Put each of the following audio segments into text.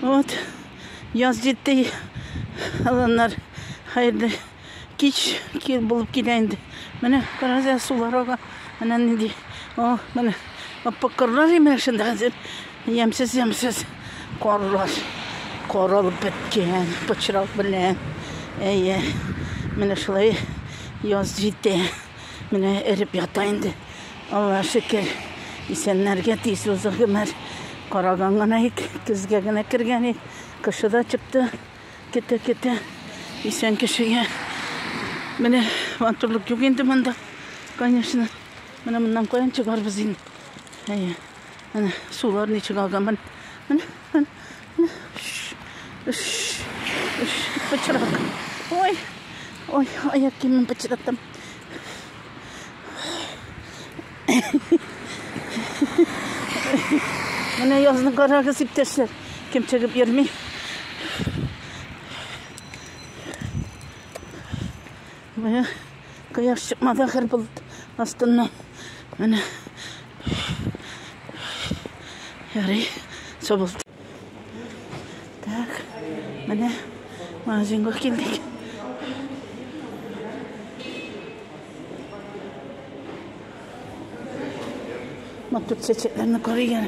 Вот, яз җитте, аланнар, хәерле кич кир булып килә инде. Менә карагыз, сулар ага. Менә нинди. О, менә аппак карлар имеш шунда хәзер. Ямсыз, ямсыз карлар. Каралып беткән, пычрак белән. Әйе. Менә шулай яз җитте. Менә эреп ята инде. Аллаһ шөкер, исәннәргә тиз узды гомер. Караган гына ик, көзгә генә кергән ик. Кышы да чыкты, көтә-көтә. Исән кешегә. Менә матурлык юк инде монда, конечно. Менә моннан каян чыгарбыз инде? Әйе. Менә сулар ничек алган. Менә. Пычрак. Ой, ой, аяк киемем пычраттым. Менә язны карагыз, иптәшләр. Кем чыгып йөрми? Менә кояш чыкмады ахыр болыт астыннан. Менә. Ярый, сабылды. Так, менә магазинга килдек. Матур чәчәкләрне карыйгән.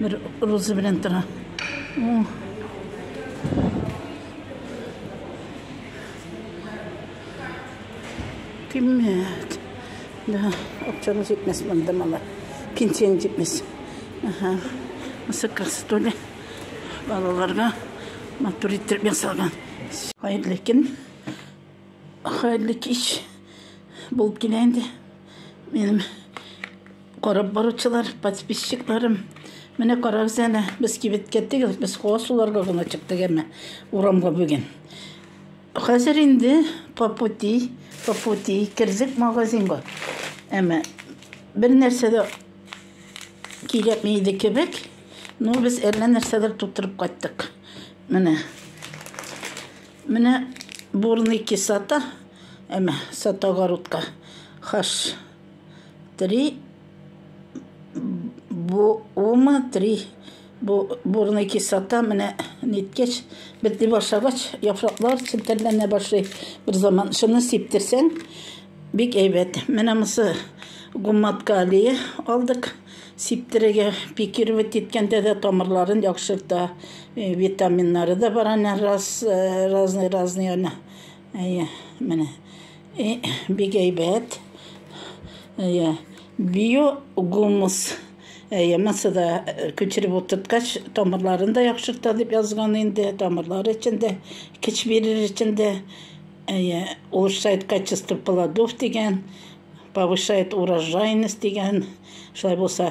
Бер роза белән тора. Киммәт. Да, акчаны җитмәс монда мала. Пенсияң җитмәс. Ага. Мысы кастоле. Балаларга матур иттереп ясалган. Хәерле көн. Хәерле кич. Булып килә инде. Минем Карап баручылар, подписчикларым, менә карагыз әле, без кибеткә түгел, без һава суларга гына чыктык әмма урамга бүген. Хәзер инде по пути, по пути кердек магазинга. Әмма бер нәрсә дә кирәкми иде кебек, но без әллә нәрсәдер тутырып кайттык. Менә. Менә бурный кисата, әмма сата огородка. Хаш. три бума три бурный кислота менә ниткәч бетли башлагач яфраклар челтәрләнә башлый бер заман шуны сиптерсәң бик әйбәт менә монысы гуммат калия алдык сиптерергә пикировать иткәндә дә тамырларын яхшырта витаминнары да бар аны раз разный разный аны Әйе, менә. Э, бик әйбәт. Әйе, биогумус. Әйе, монсы да э, күчереп утырткач, тамырларын да яхшырта дип язган инде. Тамырлар өчен дә, көч бирер өчен дә. Әйе, улучшает качество плодов дигән, повышает урожайность дигән. Шулай булса,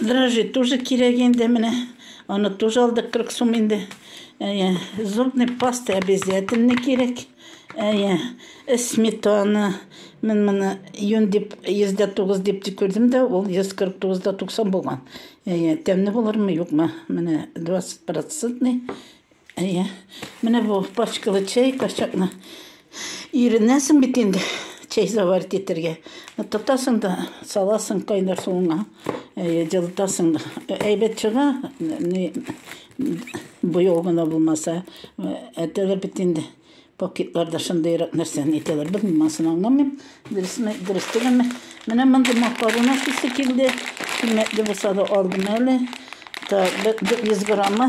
Дрожжи тоже кирәк инде менә. Аны тоже алдык 40 сум инде. Әйе, зубный паста обязательно кирәк. Әйе, сметана. Мен моны юн дип 109 дип тик күрдем дә, ул 149 да 90 булган. Әйе, тәмле булырмы, юкмы? Менә 20 процентный Әйе. Менә бу пачкалы чәй качакны иренәсең бит инде чәй заварить итәргә. Тотасың да саласың кайнар суыңа. Әйе, җылытасың да. Әйбәт чыга, ни буяу гына булмаса. Әтәләр бит инде пакетларда шундыйрак нәрсәне әйтәләр. Белмим, анысын аңламыйм. Дөресме, дөрес түгелме? Менә мондый макарон ашыйсы килде. Кыйммәтле булса да алдым әле. Так, 100 граммы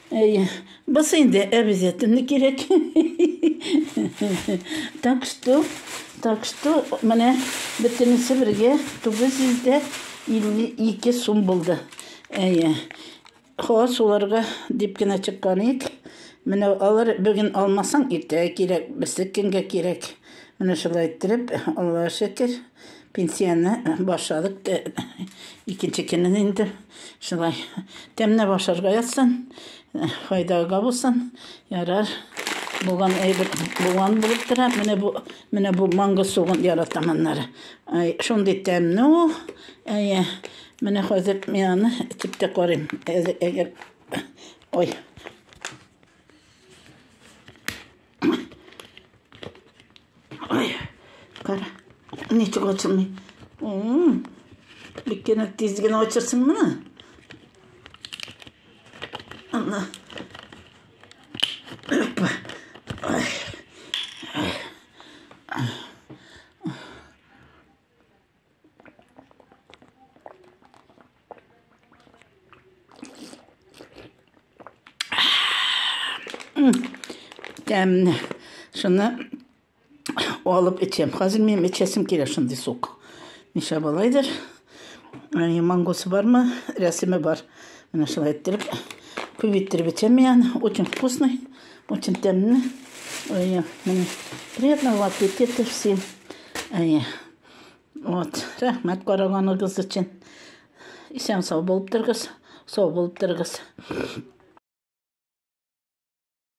Әй, бысы инде обязательно кирәк. Так что, так что, менә бөтенесе бергә 952 сум булды. Әйе. Хас уларга дип кенә чыккан ик. Менә алар бүген алмасаң, иртәгә кирәк, берсе кемгә кирәк. Менә шулай иттереп, Аллага шөкер. Пенсияне башладык. Икенче көнен инде шулай тәмнәп ашарга ятсын, файдага булсын. Ярар. Булган әйбер булган булып тора. Менә бу менә бу манго сугын яратам аннары. Ай, шундый тәмне ул. Әйе. Менә хәзер мин аны итеп тә карыйм. Әгәр Ой. Ой, кара, ничек ачылмый. Бик кенә тиз генә ачырсың мына. Ана. Опа. Ой. тәмле шуны алып эчәм хәзер мин эчәсем килә шундый сук ниша болайдыр мангосы бармы рәсеме бар менә шулай иттереп күп иттереп эчәм мин очень вкусный очень тәмле приятного аппетита всем Вот, рәхмәт караганыгыз өчен. Исән сау булып торыгыз, сау булып торыгыз.